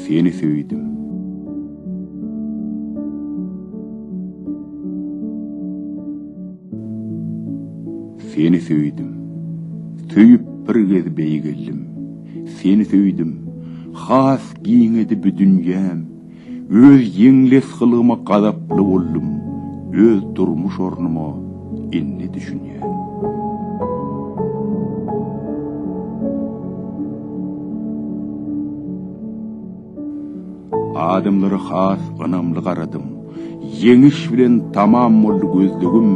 Seni söýdüm. Seni söýdüm. Söýüp bir gez beýgeldim. Seni söýdüm. Has giňedi bu dünýäm. Öz ýeňles gylyma gazaply boldum, öz durmuş ornuma indi düşünýän. Adamlara has ynamly garadym. Ýeňiş bilen tamam boldy gözlegim,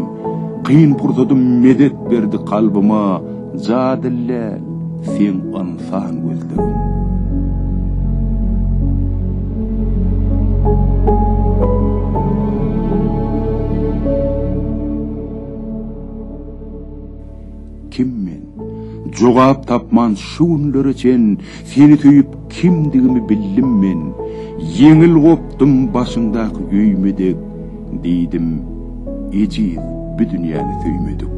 Kyn pursatym medet berdi kalbyma, Ja dilläl, seň ynsan gözlegim. Kim men? Jogap tapman şu günlere çen, Seni söýüp kimdigimi bildim men. Ýeňil gopdum başyňdaky öýme dek, Diýdim, ejiz, bu dünýäni söýmedik.